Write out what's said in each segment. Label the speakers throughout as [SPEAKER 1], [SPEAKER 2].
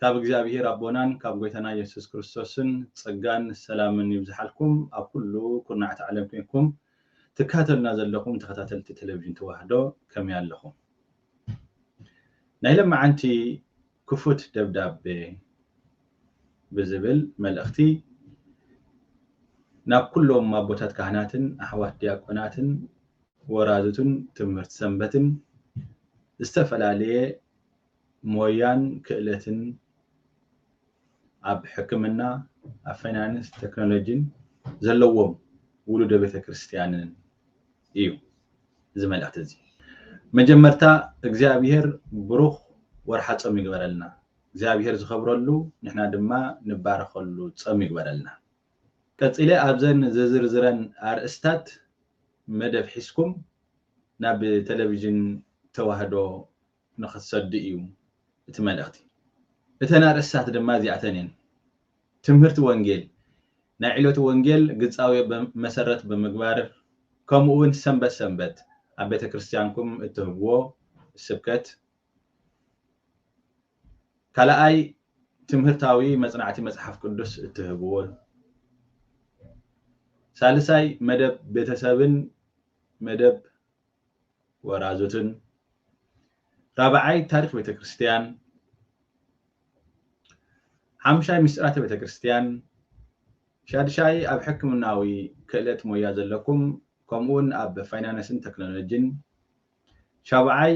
[SPEAKER 1] ካብ እግዚኣብሄር ኣቦናን ካብ ጎይታና የሱስ ክርስቶስን ጸጋን ሰላምን ይብዝሓልኩም ኣብ ኩሉ ኩርናዓት ዓለም ኮንኩም ትካተሉና ዘለኹም ተኸታተልቲ ተለቪዥን ተዋህዶ ከመይ ኣለኹም ናይ ለማዓንቲ ክፉት ደብዳቤ ብዝብል መልእኽቲ ናብ ኩሎም ኣቦታት ካህናትን ኣሕዋት ዲያቆናትን ወራዙትን ትምህርቲ ሰንበትን ዝተፈላለየ ሞያን ክእለትን ኣብ ሕክምና፣ ኣብ ፋይናንስ፣ ተክኖሎጂን ዘለዎም ውሉደ ቤተክርስትያንን እዩ እዚ መልእኽቲ እዚ። መጀመርታ እግዚኣብሄር ብሩኽ ወርሓ ጾም ይግበረልና። እግዚኣብሄር ዝኸብረሉ ንሕና ድማ ንባረኸሉ ጸም ይግበረልና። ቀጺለ ኣብዘን ዝዝርዝረን ኣርእስታት መደብ ሒዝኩም ናብ ተለቪዥን ተዋህዶ ንኽትሰዱ እዩ እቲ መልእኽቲ። እተን ኣርእስትታት ድማ እዚኣተን እየን፣ ትምህርቲ ወንጌል፣ ናይ ዕለቱ ወንጌል ግጻዌ መሰረት ብምግባር፣ ከምኡውን ሰንበት ሰንበት ኣብ ቤተ ክርስቲያንኩም እትህብዎ ስብከት። ካልኣይ ትምህርታዊ መጽናዕቲ መጽሓፍ ቅዱስ እትህብዎ። ሳልሳይ መደብ ቤተሰብን መደብ ወራዙትን ራብዓይ ታሪኽ ቤተ ክርስቲያን ሓምሻይ ምስጢራተ ቤተ ክርስቲያን ሻድሻይ ኣብ ሕክምናዊ ክእለት ሞያ ዘለኩም ከምኡውን ኣብ ፋይናንስን ቴክኖሎጂን ሻብዓይ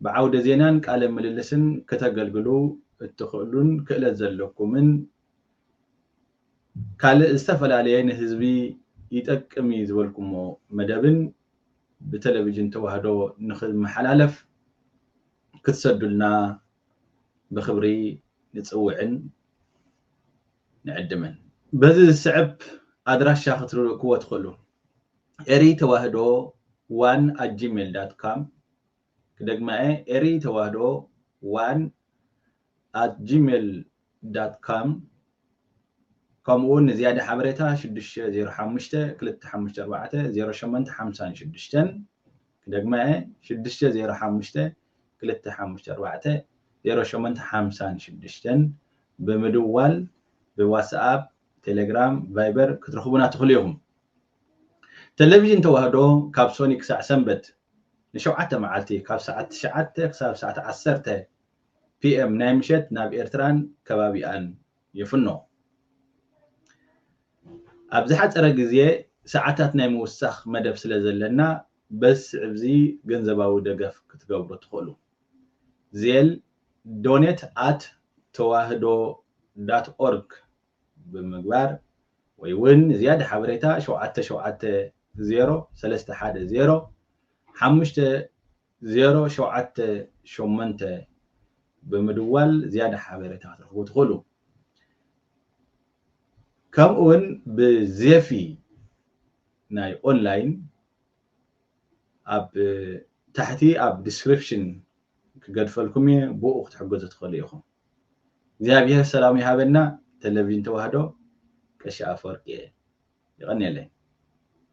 [SPEAKER 1] ብዓውደ ዜናን ቃለ ምልልስን ክተገልግሉ እትኽእሉን ክእለት ዘለኩምን ካልእ ዝተፈላለየ ንህዝቢ ይጠቅም እዩ ዝበልኩሞ መደብን ብተለቪጅን ተዋህዶ ንኽመሓላለፍ ክትሰዱልና ብኽብሪ ንጽውዕን ንዕድምን። በዚ ዝስዕብ ኣድራሻ ክትልእኩዎ ትኽእሉ፣ Eri Tewahedo one at gmail dot com፣ ክደግማ'የ Eri Tewahdo one at gmail dot com ከምኡ'ውን ንዝያዳ ሓበሬታ ሽዱሽተ ዜሮ ሓሙሽተ ክልተ ሓሙሽተ ኣርባዕተ ዜሮ ሸሞንተ ሓምሳን ሽዱሽተን ክደግማ'የ ሽዱሽተ ዜሮ ሓሙሽተ ክልተ ሓሙሽተ ኣርባዕተ ዜሮ ሸሞንተ ሓምሳን ሽዱሽተን ብምድዋል ብዋትስኣፕ ቴሌግራም ቫይበር ክትረኽቡና ትኽእሉ ኢኹም። ተለቪዥን ተዋህዶ ካብ ሶኒ ክሳዕ ሰንበት ንሸውዓተ መዓልቲ ካብ ሰዓት ትሽዓተ ክሳብ ሰዓት ዓሰርተ PM ናይ ምሸት ናብ ኤርትራን ከባቢኣን ይፍኖ። ኣብ ዝሓጸረ ግዜ ሰዓታት ናይ ምውሳኽ መደብ ስለ ዘለና በዚ ስዕብዚ ገንዘባዊ ደገፍ ክትገብሩ ትኽእሉ። ዜል፣ Donate at tewahdo dot org። ብምግባር ወይ ውን ዝያዳ ሓበሬታ ሸውዓተ ሸውዓተ ዜሮ ሰለስተ ሓደ ዜሮ ሓሙሽተ ዜሮ ሸውዓተ ሸሞንተ ብምድዋል ዝያዳ ሓበሬታ ክትረኽቡ ትኽእሉ። ከምኡ ውን ብዜፊ ናይ ኦንላይን ኣብ ታሕቲ ኣብ ዲስክሪፕሽን ክገድፈልኩም እየ ብኡ ክትሕገዙ ትኽእሉ ኢኹም። እግዚኣብሔር ሰላሙ ይሃበልና ተለቪዥን ተዋህዶ ቀሺ ኣፈወርቂ የቀንየለይ።